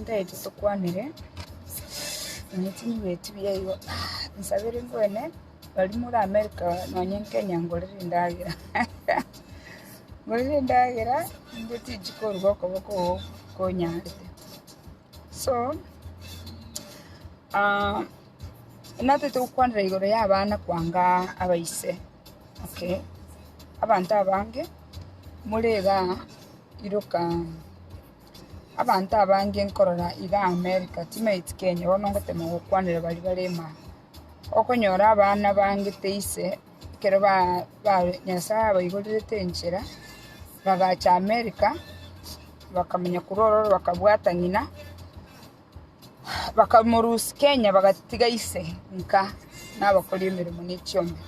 Ntaete tokwanire, nonya chinguru echio mbuya igo, nsabere ngwene baria more America nonya Kenya ngorere endagera, ngorere endagera inde tiji koruga okoboko oo konyarete. So nataete gokwanera igoro ya abana kwanga abaise, okay, abanto abange more igaa iroka. Abanto abange nkorora iga Amerika timaeti Kenya bono ngotema gokwanera baria bare Emaya. Okonyora abana bangete ise ekero Nyasaye abaigorerete enchera bagacha Amerika bakamenya korwa ororo bakabwata ng'ina bakamorusia Kenya bagatiga ise nka nabakori emeremo ne chioma.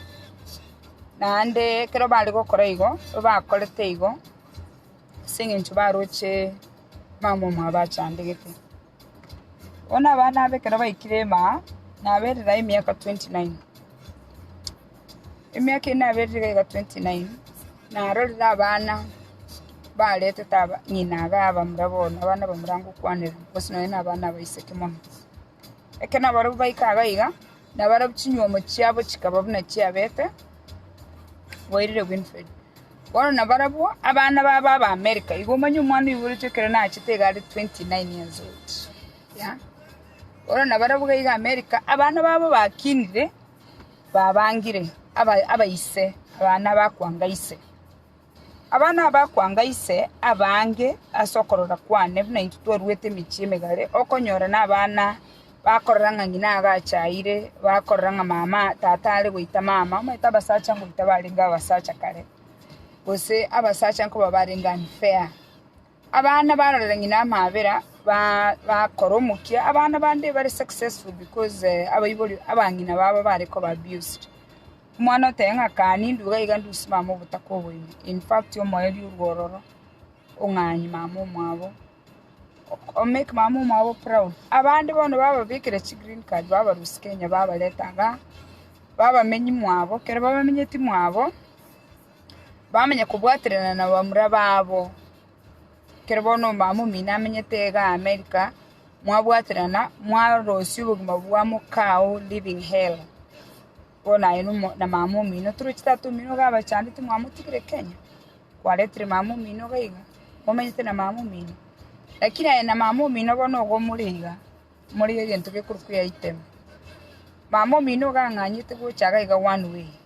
Naende ekero bare gokora igo bakorete igo. ase engencho baroche mama omwabo achandegete. Bono abana aba ekero baikire ime, naberera emiaka twenty nine. Emiaka eye naberire iga iga twenty nine, narorire abana baretete aba ng'ina abe abamura bono, abana abamura ngokwanera, bosi nonya na abana abaiseke mono. Ekero nabarabwo baika iga iga, nabarabwo chinywomo chiabo chikaba buna chiabete boirire Winfred. Bono nabarabwo abana babo aba America, igo omanye omwana oyo oboretwe ekero nachete iga are 29 years old, yeah. Bono nabarabwo iga iga America, abana babo bakinire, babangire aba- abaise, abana bakwanga ise. Aba nabakwanga ise abange ase okorora kwane, buna intwe twaruete emechie emegare, okonyora nabana bakorora ng'a ng'ina agachaire, bakorora ng'a mama tata are goita mama, omanyete abasacha ngoita barenge abasacha kare, gose abasacha nkoba barenge unfair. Abana barorera ng'ina amaabera, bakora omokia. Abana bande bare successful because abaibori abang'ina babo bare koba abused. Omwana oteba ng'a kaa nindue iga iga nduse mama obotaka oboime. In fact omoerio orue ororo, ong'anyi mama omwabo, o make mama omwabo proud. Abande bono bababekera chi green card babarusia Kenya babareta igaa, babamenyia mwabo. Ekero babamenyeti mwabo, bamanye kobwaterana nabamura babo. Ekero bono omama omino amenyete iga America, mwabwaterana mwarosia obogima bwa mokao living hell. Bono aye na mama omino toroche tata omino iga abachandete mwamotigire Kenya, kwaretire mama omino iga iga, momenyete na mama omino. Lakini aye na mama omino bono igo more iga, more egento gekorokwa eaitemu. Mama omino iga ang'anyete gocha iga one way.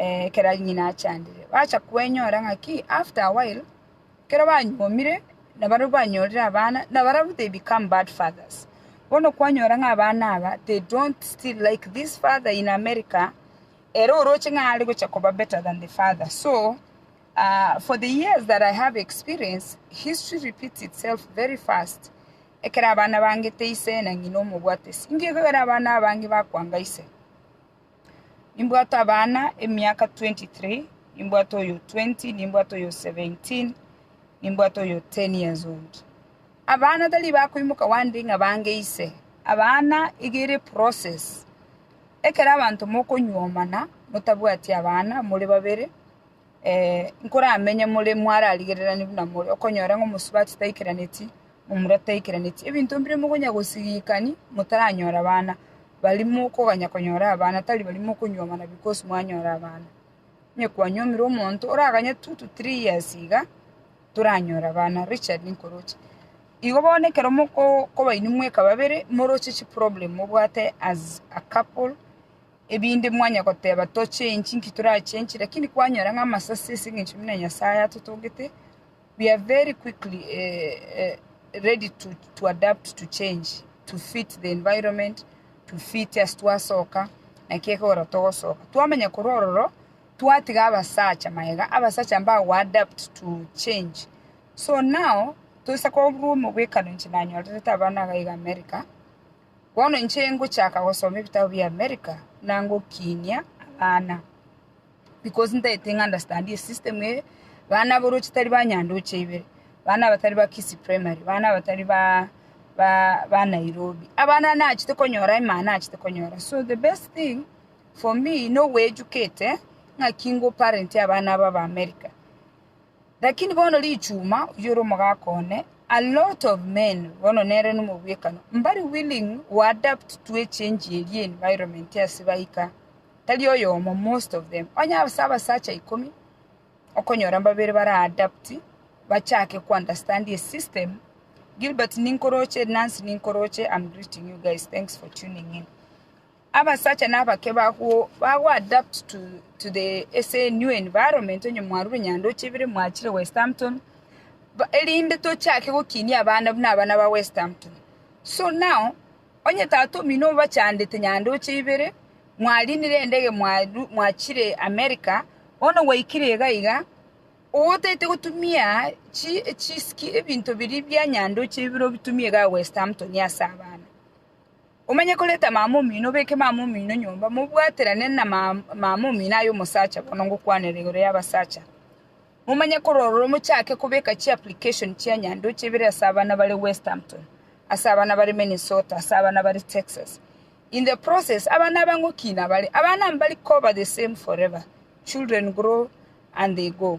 Ekero ng'ina achandire, bacha kwenyora ng'aki after a while, ekero banyuomire, nabaria banyorire abana, nabarabwo they become bad fathers. Bono kwanyora ng'a abana aba they don't still like this father in America, ere oroche ng'a are gocha koba better than the father. So, ah, for the years that I have experience, history repeats itself very fast. Ekero abana bangete ise na ng'ina omobwate, singiekogera abana abange bakwanga ise. Nimbwate abana emiaka 23, nimbwate oyo 20, nimbwate oyo 17, nimbwate oyo 10 years old. Abana tari bakoimoka wande ng'a bange ise. Abana iga ere process. Ekero abanto mokonyuomana, motabwati abana, more babere, eh, nkoramenye more mwararigererani buna more, okonyora ng'a omosubati taikeraneti. momorataikeranetie ebinto mbire mokonya gosigikani, motaranyora abana, baria mokoganya konyora abana, tari baria mokonyuomana because mwanyora abana. Onye kwanyuomire omonto oraganye two to three years iga, toranyora abana, Richard nkoroche. Igo bono ekero mokoba inwe mweka babere, moroche chiproblem mobwate as a couple, ebinde mwanya goteba tochengi, nki torachengi, lakini kwanyora ng'a amasase as'eng'encho buna Nyasaye atotogete, we are very quickly ready to adapt to change to fit the environment to fit as twasoka naki ekegora togosoka twamanya korwa ororo twatiga abasacha magega abasacha mbago go adapt to change so now toise korwa omobwekano inche nanyorerete abana iga iga America bono inche ngochaka gosoma ebitabu bia America na ngokinia abana. Because ntaete ng'a understand e system eye, bana aborochi tari ba Nyandoche ibere, bana abatari ba Kisii Primary, bana abatari ba ba ba Nairobi, abana nachete konyora emana nachete konyora. So the best thing for me nogoeducate ng'aki nko parent abana aba ba America. Lakini bono richuma, oyio ore omogaka one, a lot of men, bono nere nomobwekano, mbare willing we adapt to a change eri environment ase baika, tari oyomo, most of them. Onye ase abasacha ikomi, okonyora mbabere bara adapt, bachake ko understand a system. Gilbert ninkoroche, Nancy ninkoroche, I'm greeting you guys, thanks for tuning in. Abasacha na abake bagwo ba go adapt to to the ase new environment onye mwarure nyandoche ibere mwachire west hampton ba erinde tochake gokinia abana buna abana ba west hampton so now onye tata omino obachandete nyandoche ibere mwarinire endege mwaru mwachire america bono gwaikire iga iga otaete gotumia chi chiski ebinto biria bia nyandoche ibere obitumie igaa west hampton ase abana Omanye koreta mama omino, obeke mama omino nyomba, mobwaterane na mama omino aye omosacha, bono ngokwanera igoro y'abasacha. Momanye kororora omochake kobeka chi application chia nyandoche ibere ase abana bare Westhampton, ase abana bare Minnesota, ase abana bare Texas. In the process, abana aba ngokina bare, abana mbari koba the same forever, children grow and they go.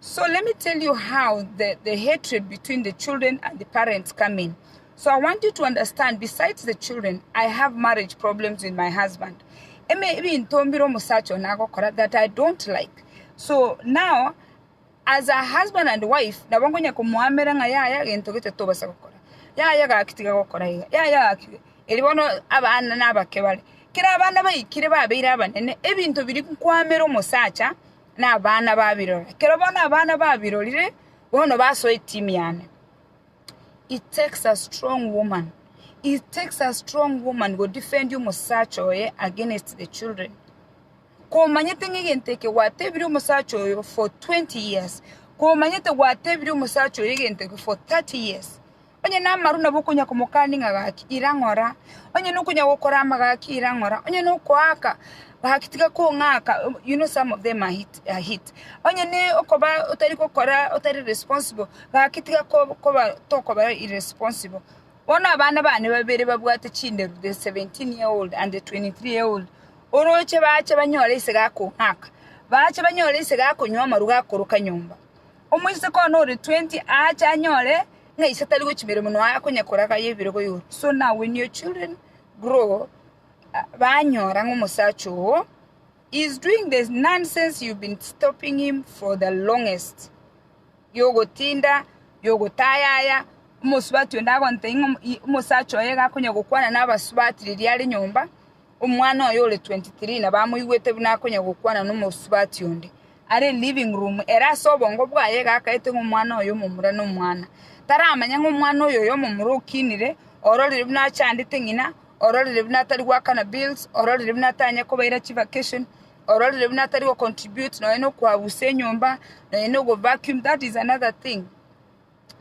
So let me tell you how the, the hatred between the children and the parents come in. So I want you to understand, besides the children, I have marriage problems with my husband. Eme ebinto mbire omusacha ono agokora that I don't like. So now, as a husband and wife, nabo ngonya komoamera ng'a yaya gento gete tobasa gokora. Yaya gaki tiga gokora iga. Yaya gaki. Eri bono abana nabake bare. Kera abana baikire babeire abanene, ebinto biri nkwamera omusacha, nabana babirora. Ekero bono abana babirorire, bono basoa etimi yane. It takes a strong woman, it takes a strong woman go defend omosacha oye against the children. Komanyete ng'a egento eke gwatebire omosacha oyo for 20 years, komanyete gwatebire omosacha oyo egento eke for 30 years, Onye namaru nabo okonya komokani ng'a gaki, ira ng'ora, onye nokonya gokorama gaki, ira ng'ora, onye nokoaka gaki tiga kong'aka, you know some of them are hit, are hit. Onye ne okoba otari gokora otari responsible gaki tiga ko- koba tokoba irresponsible. Bono abana bane babere babwate chinderu the 17 year old and the 23 year old, oroche bache banyore ase gakong'aka, bache banyore ase gakonywa amaru gakoroka nyomba. Omoiseke one ore twenty aache anyore ng'a ise tari gochia emeremo nonya aye konya koraga aye ebirogo igoro. So now when your children grow banyora ng'a omosacha ogo is doing the nonsense you've been stopping him for the longest yogotinda yogotaya aya omosubati onde agontebia ng'a omosacha oye iga akonya gokwana na abasubati riria are nyomba omwana oye ore twenty three nabo amoigwete buna akonya gokwana na omosubati onde. are living room, ere ase obongo bwaye egakaete ng'a omwana oyo omomura nomwana. Taramanya ng'a omwana oyo oyomomura okinire, ororire buna achandete ng'ina, ororire buna atari goakana bills, ororire buna atanye kobaira chi vacation, ororire buna atari gocontribute nonya nokoabusa enyomba, nonya nogovacuum, that is another thing.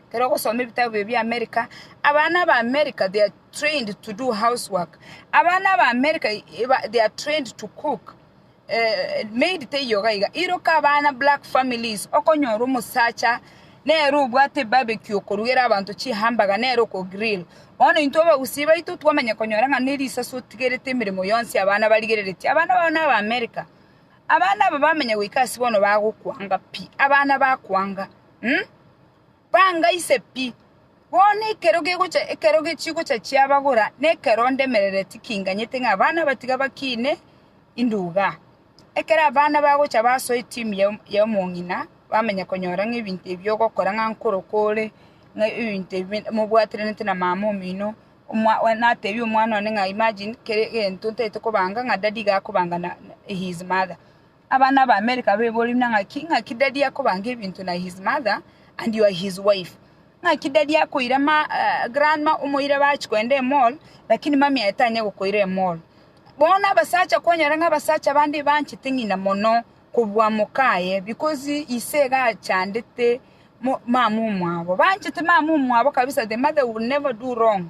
Ekero ogosoma ebitabu bibio bia America, abana ba America they are trained to do housework. Abana ba America eba- they are trained to cook. Eh, maid teiyo iga iga. Iroka abana black families, okonyora omosacha nere obwate ebarbecue okorugera abanto chihamburger nere okogrill. Bono intwe abagusii baito twamanya konyora ng'a ne risaso otigerete emeremo yonsi abana barigereretie. Abana babo naba America. Abana aba bamanya goika ase bono bagokwanga pi, abana bakwanga. Hm! Banga ise pi! Bono ekero gegocha ekero chigocha chiabagora, na ekero ndemerere tikinganyete ng'a abana abatiga bakiine inde iga. Ekero abana bagocha basoa etimu y'omong'ina, bamanya konyora ng'a ebinto ebi ogokora ng'a nkoro kore, ng'a ebinto ebi mobwaterenete na mama omino, natebie omwana one ng'a imagine kere egento ntaete kobanga ng'a daddy iga akobanga na his mother. Abana ba America baiborire buna ng'aki, ng'aki daddy akobanga ebinto na his mother and you are his wife. Ng'aki daddy akoira ma grandma omoire bachi kogenda emall lakini mummy aye tanye gokoira emall. Bono abasacha kwanyora ng'a abasacha bande ebanchete ng'ina mono kobua mokaye because ise iga achandete mo mama omwabo. Banchete mama omwabo kabisa the mother will never do wrong.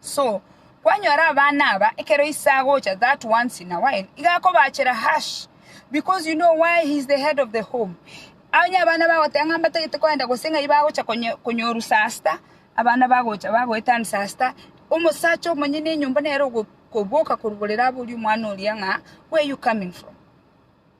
So, kwanyora abana aba ekero ise agocha that once in a while iga akobaachera hush because you know why he is the head of the home onye abana bagoteba ng'a mbatagete kogenda gose ng'ai bagocha konye- konyoru sasta abana bagocha bagoetan sasta omosacha omonyene enyomba nere ogo- koboka koruborera abori omwana oria ng'a where you coming from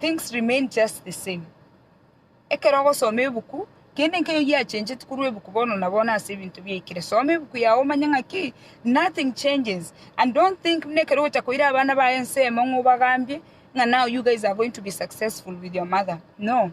Things remain just the same. Ekero ogosoma ebuku, kende nkeyo giachencheti korwa ebuku bono na bono ase ebinto biaikire. Soma ebuku yao omanye ng'aki nothing changes and don't think buna ekero ogocha koira abana baye ensemo ng'a obagambie ng'a now you guys are going to be successful with your mother. No.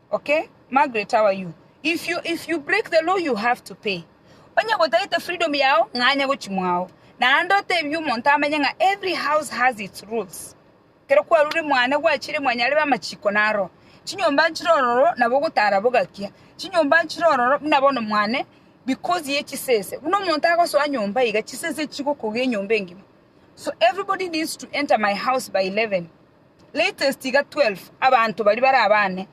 Okay Margaret how are you if you if you break the law you have to pay onye gotagete freedom yao ng'anya gochimwao naende otebie omonto amenye ng'a every house has its rules kero kwarure mwane gwachire mwanyarebe amachiko naro chinyomba nchire ororo nabo ogotara bogakia chinyomba nchire ororo buna bono mwane because ye chisese buna omonto agosoa nyomba iga chisese chigokoga enyomba engima so everybody needs to enter my house by 11 Latest iga 12 abanto baria bare abane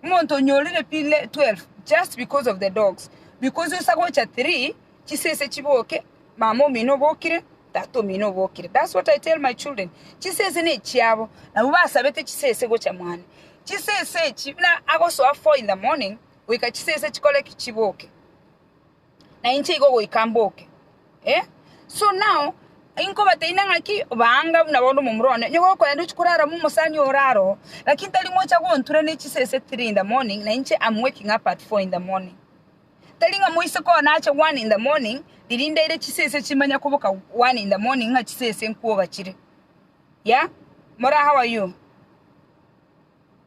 omonto onyorire pi 12 just because of the dogs because osa gocha 3 chisese chiboke mama omino obokire tata omino obokire that's what I tell my children chisese ne chiabo nabo basabete chisese gocha mwane chisese echi buna agosoa 4 in the morning goika chisese chikore ki chiboke na inche igo goika mboke. Eh? So now, inkobateina ng'aki baanga buna bonde omomura one, onye gokoenda ochia korara mo omosani ore aroo, lakini tari mocha gontura ne chisese three in the morning na inche am waking up at four in the morning. Tari ng'a moise koo nache one in the morning riria ndaire chisese chimanya koboka one in the morning ng'a chisese nkuoga chire. Yeah? Mora how are you?